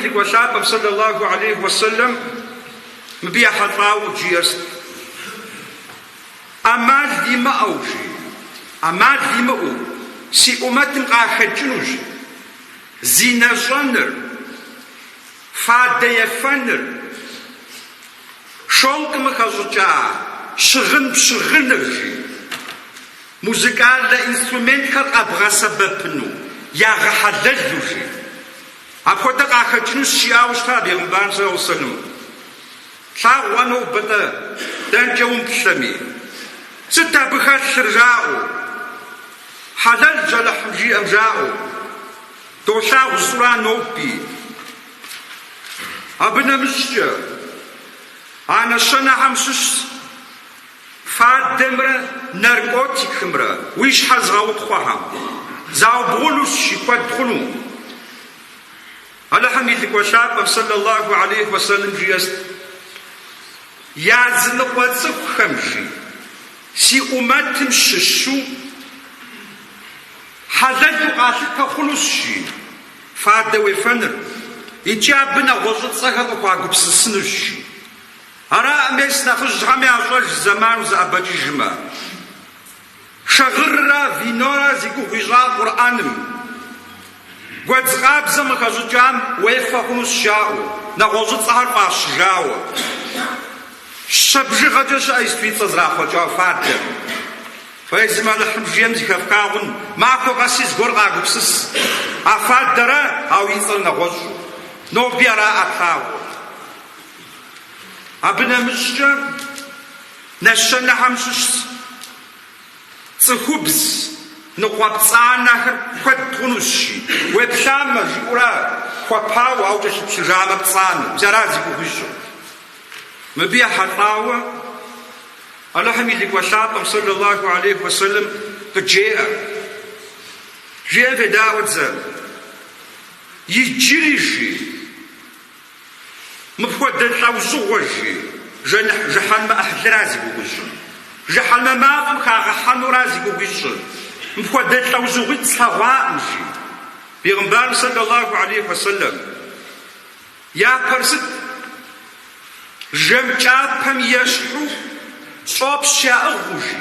Лӏыкӏуэ Лъапӏэм, сэллаллаху алейхи уэ сэллэм, мыбы ехьэлӏауэ жиӏэр сыт, ӏэмал имыӏэу, жи, ӏэмал имыӏэу, си ӏумэтым къахэкӏынущ зинэ щӏэныр, фадэ ефэныр, шолкым къыхэщӏыкӏа щыгъын пщыгъыныр, жи, музыкальнэ инструментхэр къэбгъэсэбэпыну ягъэхьэлэлу, жи. Апхуэдэ къахэкӏынущ, жиӏауэ щытащ Бегъымбарым, сэллаллаху алейхи уэ сэллэм. Болъагъу уэ нобэ-тӏэ, дэнкӏэ умыплъэми. Сыт абы хэлъыр, жаӏэу? Хьэлэлщ Алыхьым жиӏэм жаӏэу. Долъагъу зыщӏыра ноби. Абы нэмыщӏкӏэ, а нэщэнэхэм щыщщ. Фадэмрэ наркотикымрэ уи щхьэ зыгъэутхъуэхэм заубгъунущ, жи куэд хъуну. Алыхьым и Лӏыкӏуэ Лъапӏэм, сэллаллаху алейхи уэ сэллэм, жиӏэр сыт, Языныкъуэ цӏыхухэм жи, си ӏумэтым щыщу хьэлэлу къалъытэ хъунущ, жи, фадэ уефэныр, икӏи абы нэгъуэщӏыцӏэхэр къыхуагупсысынущ, жи. Араӏэ мес нэхъыжьхэм ящӏэж зэман узэӏэбэкӏыжмэ. Шагъыррэ винорэ зи гугъу ищӏа Къурӏэным, гуэдз къабзэм къыхэщӏыкӏам уефэ хъунущ жаӏэу, нэгъуэщӏыцӏэхэр фӏащыжауэ, щэ бжыгъэкӏэ щыӏэ сыт и цӏэ зрахъуэкӏауэ фадэм. Фэ езым Алыхьым жиӏэм зыхэфхагъун, махуэ къэси зыгуэр къагупсыс, а фадэра, ауэ и цӏэр нэгъуэщӏу. Ноби араӏэ плъагъур. Абы нэмыщӏкӏэ нэщэнэхэм щыщ цӏыхубз ныкъуэпцӏанэхэр куэд хъунущ, жи, уеплъамэ, жиӏэурэ хуэпауэ, ауэ кӏэлъыплъыжамэ пцӏанэу, мис ара зи гугъу ищӏыр? Мыбы ехьэлӏауэ Алыхьым и Лӏыкӏуэ Лъапӏэм, сэллаллаху алейхи уэ сэллэм, къыджеӏэ, Жиӏэм федаӏуэт зэ, иджыри, жи. Мыпхуэдэ лӏэужьыгъуэ жи, жыхьэнмэ ӏыхьлыра зи гугъу ищӏыр? Жыхьэнмэ мафӏэм хагъэхьэнура зи гугъу ищӏыр? Мыпхуэдэ лӏэужьыгъуитӏ слъэгъуакъым жи. Бегъымбарым сэллаллаху алейхи уэ сэллэм япэр сыт? Жэм кӏапэм ещхьу щӏопщ яӏыгъыу жи.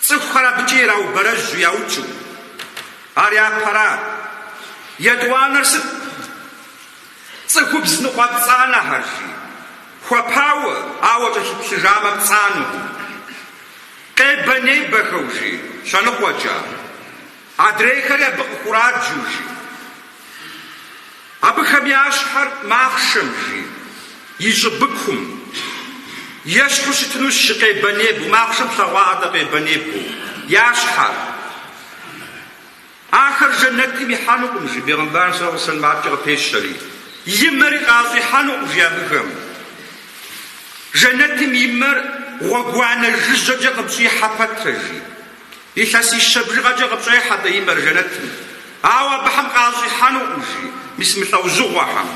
Цӏыхухэр абыкӏэ ираубэрэжьу яукӏыу, Ар япэра? Етӏуанэр сыт? Цӏыхубз ныкъуэпцӏанэхэр, жи. Хуэпауэ, ауэ кӏэлъыплъыжамэ пцӏанэу. Къебэ-небэхэу, жи, щэныкъуэкӏэ. Адрейхэри абы къыхураджэу, жи. Абыхэм я щхьэр махъшэм, жи, и щӏыбыкум ещхьу щытынущ, жи, къебэ-небэу, махъшэм плъэгъуа адэ къебэ-небэу, я щхьэр. Ахэр жэнэтым ихьэнукъым, жи, бегъымбарым сэлэллахьу алейхьи уэ сэллэм, аткӏэ къыпещэри. И мэри къащӏихьэнукъым, жи, абыхэм. Жэнэтым и мэр гъуэгуанэ жыжьэкӏэ къыпщӏихьэ пэтрэ, жи. Илъэсищэ бжыгъэкӏэ къыпщӏехьэ атӏэ и мэр жэнэтым, ауэ абыхэм къащӏихьэнукъым, жи, мис мы лӏэужьыгъуэхэм.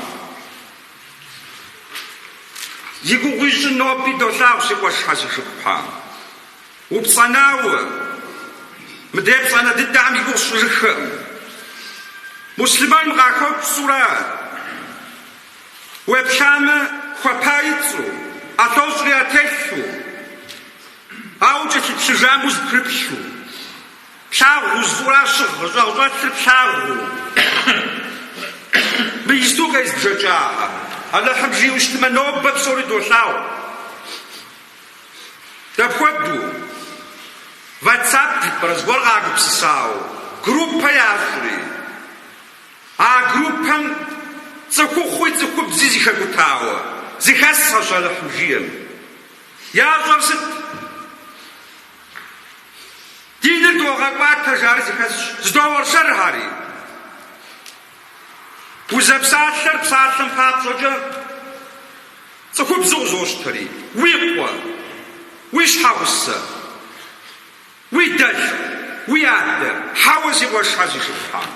Зи гугъу ищӏы ноби долъагъу си къуэшхьэ си шыпхъухьэ. Упцӏэнауэ, мыдрей пцӏэнэ дыдэхэм и гугъу сщӏыжыххэкъым. Муслъымэным къахопщӏурэ, уеплъамэ, хуэпа и цӏэу, ӏэлъэщӏри ятелъу. Ауэ кӏэлъыплъыжам узыпрыплъу, плъагъу узыфӏу ара щыгъ щӏагъщӏэлъыр плъагъуу. Мы исту къезбжэкӏахьэр Алыхьым жиӏэу щытмэ, нобэ псори долъагъу. Дапхуэдэу? Ватсап жыпӏэрэ зыгуэр къагупсысауэ, группэ ящӏри, а группэм цӏыхухъуи цӏыхубзи зыхэкӏутауэ зыхэсхьэщ Алыхьым жиӏэм. Ящӏэр сыт? Диныр догъэкӏуатэ, жари зыхэсщ. Зэдоуэршэрхьэри. Узэпсалъэр псалъэм папщӏэкӏэ цӏыхубзу къызощтэри, уи къуэ, уи щхьэгъусэ, уи дэлъху, уи адэ, хьэуэ си къуэшхьэ си шыпхъухьэ.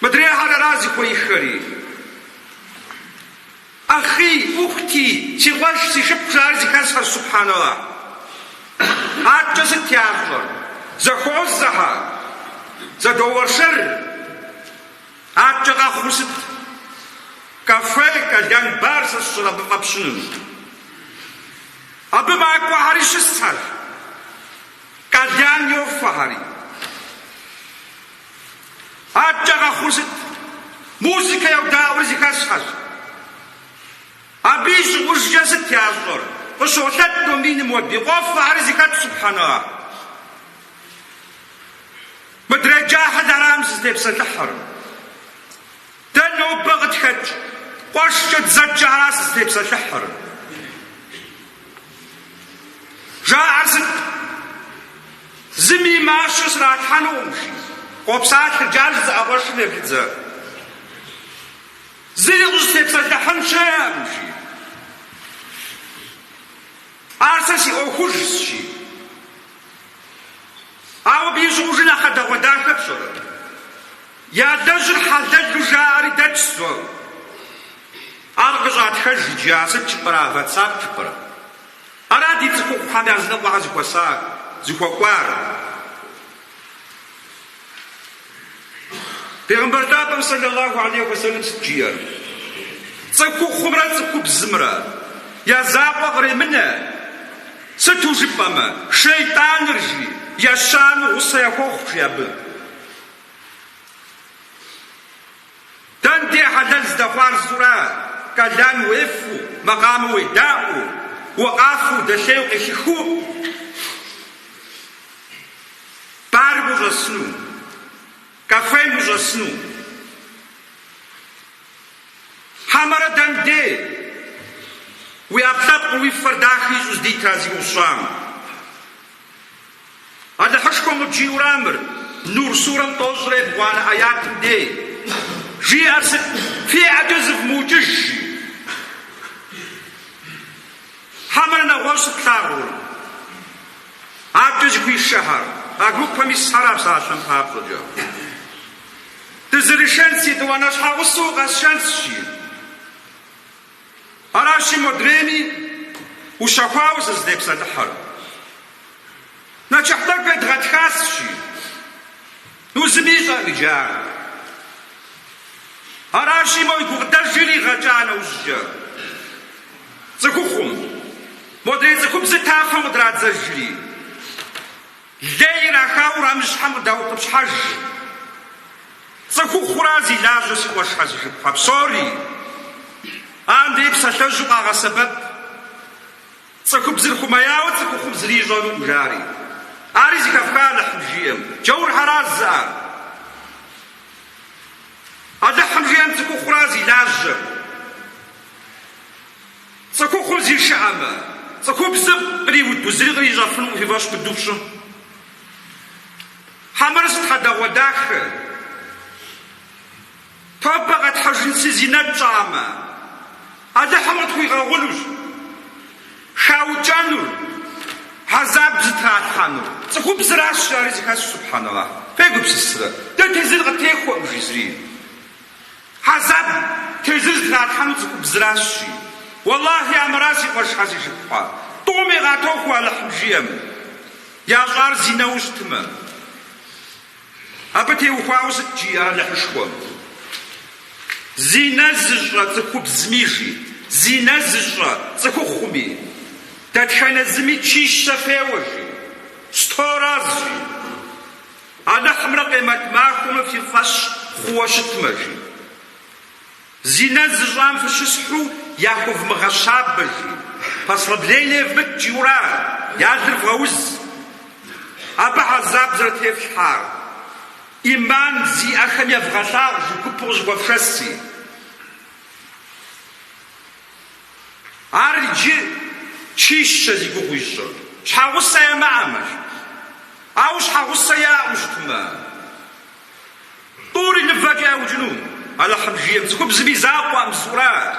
Мыдрейхэр ара зыхуеиххэри? Ахъи, ухти, си къуэш, си шыпхъу жари зыхэсхьэщ, субхьэналлахь. Аткӏэ сыт ящӏэр? Зэхуозэхьэ, зэдоуэршэр. Аткӏэ къэхъур сыт? Кафе, кальян бар сэ сщӏэра абы фӏэпщынур. Абы макӏуэхьэри щысхьэщ, кальян йофэхьэри. Аткӏэ къэхъур сыт? Музыкэ йодаӏуэри зыхэсхьэщ. Абы и щӏыгъужкӏэ сыт ящӏэр? Къыщолъэт ном миным уэби. Къофэри зыхэт, субхьэналлахь. Мыдрей джахьыл арам сызытепсэлъыхьыр. Дэ нобэ къытхэкӏ къуэшкӏэ дызэджэ ара сызытепсэлъыхьыр. Жаӏэр сыт? Зыми и мащэ сралъхьэнукъым, жи, къопсалъэ Джаль зы ӏэгъуэшым ефидзэ. Зыри къыщӏыстепсэлъыхьын щыӏэкъым, жи. Ар сэ си ӏуэхужщ, жи. Ауэ абы и щӏыгъужыр нэхъ хьэдэгъуэдахэ пщӏэрэ? Я лэжьыр хьэлэлу жаӏэри дэтщ зор. Ар къыщӏатхэж иджы, а сыт жыпӏэрэ, ватсап жыпӏэрэ? Ара ди цӏыхухъухьэм языныкъуэхэр зыхуэсар, зыхуэкӏуар? Бегъымбар лъапӏэм сэлэлаху алейхи уэ сэлым сыт жиӏэр? Цӏыхухъумрэ цӏыхубзымрэ я закъуэ къремынэ, сыту жыпӏэмэ, шейтӏаныр, жи, ещанэу гъусэ яхуохъу, жи абы. Дэнде хьэлэл здэхъуар зыурэ кальян уефу, макъамэ уедаӏуэу, укъафэу, дэлъейу къелъыхыу барым ущӏэсыну, кафем ущӏэсыну. Хьэмэрэ дэнде уи ӏэпкълъэпкъыр уи фэр дахи ищӏу здитыр а зи гугъу щӏам? Алыхьышхуэм къыбжиӏэу арамыр, Нур сурэм тӏощӏрэ ебгъуанэ ӏэятым дей. Жиӏэр сыт? Фи ӏэкӏэ зывмыукӏыж! жи. Хьэмэрэ нэгъуэщӏ сыт плъагъур? Адэкӏэ зыхуишэхьэр, а группэм исхьэрэ а сашэн папщӏэкӏэ? Дызэрышэнщ, етӏуанэ щхьэгъусэу укъэсшэнщ! жи. Аращи, модрейми ущэхуауэ сызытепсэлъыхьэр. Нэчыхь тӏэкӏу едгъэтхащ, жи, ну зыми ищӏэкъым иджы ар. Аращи, мо и гукъыдэж иригъэкӏа нэужькӏэ, цӏыхухъум, модрей цӏыхубзыр тафэм къытрадзэжри. Лей ирахауэ урамыщхьэм къыдаутӏыпщхьэж. Цӏыхухъура зи лажьэ си къуэшхэ, си шыпхъухэ псори адрей псалъэжьу къагъэсэбэп. Цӏыхубзыр хуэмеяуэ цӏыхухъум зыри ищӏэнукъым, жари. Ари зэхэфха Алыхьым жиӏэм. Джаурхэращ жызыӏар. Алыхьым жиӏэм цӏыхухъура зи лажьэм. Цӏыхухъур зишыӏэмэ, цӏыхубзыр къриуду зыри кърищӏэфынукъым, фи фӏэщ быду фщӏы. Хьэмэрэ сыт хьэдэгъуэдахэ. Тобэ къэтхьыжынщи, зинэ тщӏамэ, Алыхьым къытхуигъэгъунущ хаукӏэнур, хьэзаб зытралъхьэнур. Цӏыхубзыращ жари зэхэсщ, субхьэналахь, фегупсысрэ, дэ тезыр къыттехуэкъым жи зыри. Хьэзаб, тезыр зытралъхьэнур цӏыхубзращи. Уэлахьи, амыра си къуэшхьэ, си шыпхъухьэ. Тӏуми къатохуэ Алыхьым жиӏэм, ящӏар зинэу щытмэ. Абы теухуауэ сыт жиӏэр Алыхьышхуэм? Зинэ зыщӏэ цӏыхубзми жи, зинэ зыщӏэ цӏыхухъуми, дэтхэнэ зыми чищэ феуэ жи, сто раз жи. Алыхьымрэ Къемэт махуэмрэ фи фӏэщ хъууэ щытмэ, жи. Зинэр зыщӏам фыщысхьу яхувмыгъэщабэ, жи. Послабление евмыт, жиӏэура, я лыр вгъэуз. Абы хьэзаб зэрытефлъхьар, иман зиӏэхэм евгъэлъагъу жи, гупу къызэхуэфшэси. Ар иджы чищэ зи гугъу ищӏыр. Щхьэгъусэ ямыӏэмэ, жи. Ауэ щхьэгъусэ яӏэу щытмэ, тӏури нывэкӏэ яукӏыну? Алыхьым жиӏэм, цӏыхубзым и закъуэкъым сурат.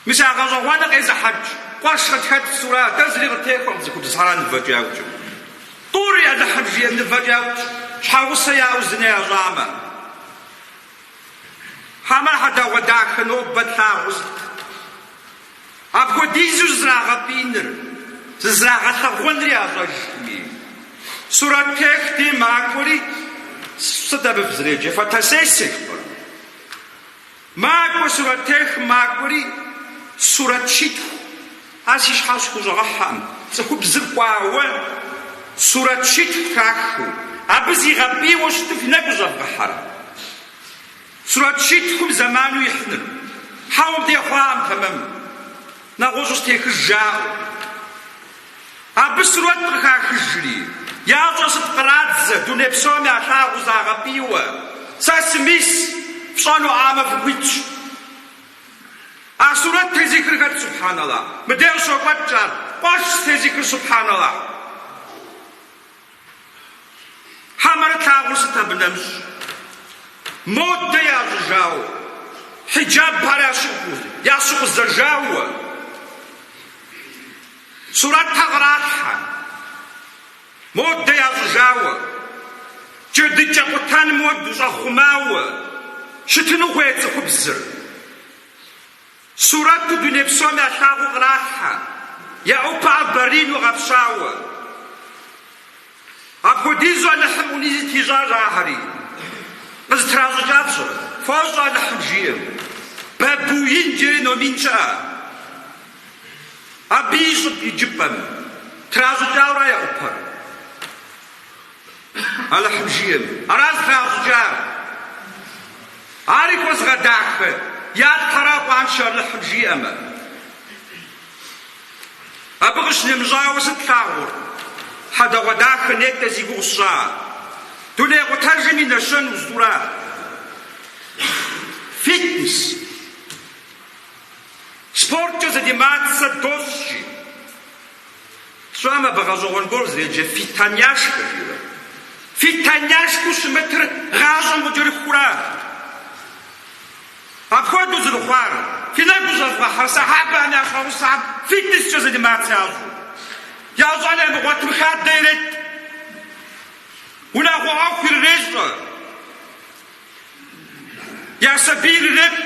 Мис а гъэщӏэгъуэныр къезыхьэкӏ къуэш къытхэт сурат. Дэ зыри къытехуэкъым цӏыхубзхьэра нывэкӏэ яукӏыну. Тӏури, Алыхьым жиӏэм, нывэкӏэ яукӏ, щхьэгъусэ яӏэу зинэ ящӏамэ. Хьэмэ хьэдэгъуэ дахэ нобэ тлъагъуу сыт? Апхуэдизу зызрагъэпӏиныр, зызрагъэлъэгъуэнри ящӏэжми. Сурэттех дей макӏуэри, сыт абы фызреджэр, фотосессие жыфӏэрэ? Макӏуэ сурэттехым, макӏуэри сурэт щитху. Ар си щхьэ схущӏэгъэхьэкъым. Цӏыхубзыр кӏуауэ сурэт щитху трахыу, абы зигъэпӏийуэ щыту фи нэгу къыщӏэвгъэхьэрэ? Сурэт щитхум зэману ихьыныр. Хьэуэ, мыдей хъуакъым тэмэму. Нэгъуэщӏу сытехыж жаӏэу. Абы сурэт къыхахыжри, ящӏэр сыт, кърадзэ, дуней псом ялъагъуу загъэпӏийуэ? Сэ сымис, фщӏэнуӏамэ, фыхуитщ. А сурэт тезыхыр хэт, субхьаналлах? Мыдеж щокӏуэкӏ ар. Къуэшщ тезыхыр, субхьаналлах. Хьэмэрэ тлъагъур сыт абы нэмыщӏ? Модэ ящӏыжауэ, хьиджаб ар ящыгъу, ящыгъупщэжауэ, сурэтхьэ къралъхьэ. Модэ ящӏыжауэ, джэдыкӏэ къутэным хуэдэу щӏэхъумауэ щытыну хуейт цӏыхубзыр. Сурэту дуней псом ялъагъуу къралъхьэ, я ӏупэхэр баринэу гъэпщауэ. Апхуэдизу Алыхьым ӏуни зытищӏащ ахэри. Къызытращӏыкӏар пщӏэрэ? Фощӏэ Алыхьым жиӏэм. Бабуин жаӏэри номин щыӏэ. Абы и щӏыб иджыпӏэм тращӏыкӏауэра я ӏупэр? Алыхьым жиӏэми, аращ тращӏыкӏар. Ари хуэзыгъэдахэ я лӏхэра къуаншэ Алыхьым жиӏэмэ? Абы къыщынэмыщӏауэ сыт плъагъур? Хьэдэгъуэдахэ, нетӏэ зи гугъу сщӏа? Дуней къутэжым и нэщэн узтӏура? Фитнес. Спорткӏэ занимацца дощӏ жи, тщӏэм абы гъэщӏэгъуэн гуэр зэреджэ Фитоняшкэ жиӏэу. Фитоняшкэу щымытыр гъащӏэм къыкӏэрыхура? Апхуэдэу зэрыхъуар, фи нэгу щӏэвгъэхьэрэ сэхьэбэхэм я щхьэгъусэхэм фитнескӏэ занимацца ящӏу, ящӏэн ямыгъуэтым хадэ иретӏ, унагъуэ ӏуэху ирырещӏэ. Я сабийр ирепӏ.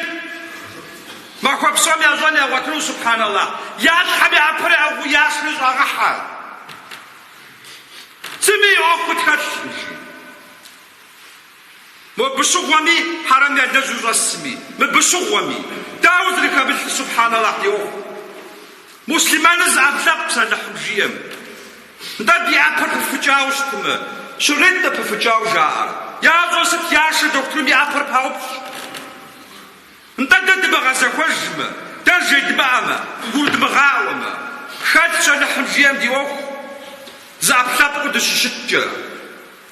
Махуэ псом я щӏэн ягъуэтыну, субхьэналла. Я щхьэм я пэр ягъу ясми щӏагъэхьэ. Зыми и ӏуэхур тхэлъ. Мобы щыгъуэми хьэрэм ялэжьу щӏэсми, мыбы щыгъуэми. Дауэ зрыхэмылъыр, субхьэналла, ди ӏуэху. Муслъымэныр зы ӏэпкълъэпкъщ Алыхьым жиӏэм. Нтӏэ, ди ӏэпэр пыфыкӏауэ щытымэ, щрет нтӏэ пыфыкӏауэ жаӏэр. Ящӏэр сыт яшэ дохутырым и ӏэпэр паупщӏ. Нтӏэ, дэ дымыгъэзэхуэжмэ, дэ жедмыӏэмэ, гурыдмыгъаӏуэмэ, хэлъщ Алыхьым жиӏэм ди ӏуэху зыӏэпкълъэпкъыу дыщыщыткӏэ.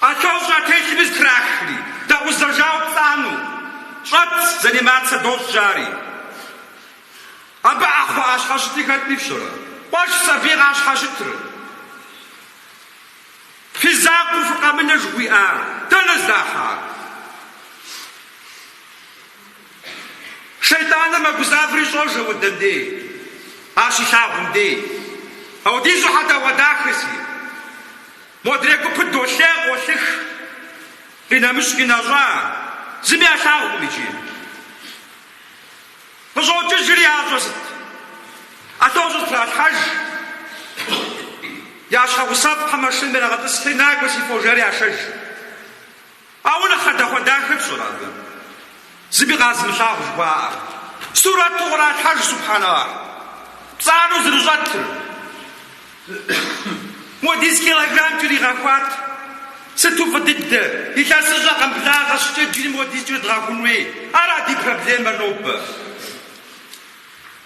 Ӏэлъэщӏ ятелъми зытрахри, дэкъузэжауэ пцӏанэу щӏэт занимацэ дощӏ жари. Абы ӏэхъуэ ящхьэщытыр хэтми фщӏэрэ? Къуэш сабий къащхьэщытрэ? Фи закъуэу фыкъэмынэ жыхуиӏар дэнэ здахьар? Шейтӏаныр мэгузавэри щӏожэ уэ дэн дей, ар щилъагъум дей. Аудизу хьэдэгъуэдахэщи. Модрей гупыр долъей, къолъых, къинэмыщӏ къинэщӏа, зыми ялъагъукъым иджы. Къыщӏокӏыжри ящӏэр сыт? Ӏэлъэщӏ зытралъхьэж. Я щхьэгъусэхэм машинэм ирагъэтӏысхьи, накӏуэ си фо жари яшэж. Ауэ нэхъ хьэдэгъуэдахэр пщӏэрэ абы? Зыми къазымылъагъу жыхуаӏэ. Сурэту къралъхьэж, субхьэналлахь, пцӏанэу зэрыщӏэтыр. Модиз килограмм кӏэригъэхуат. Сыту фӏы дыдэ, илъэсыщӏэ къэмблагъэ щӏыкӏэ иджыри модиз кӏэрыдгъэхун хуей. Ара ди проблемэр нобэ?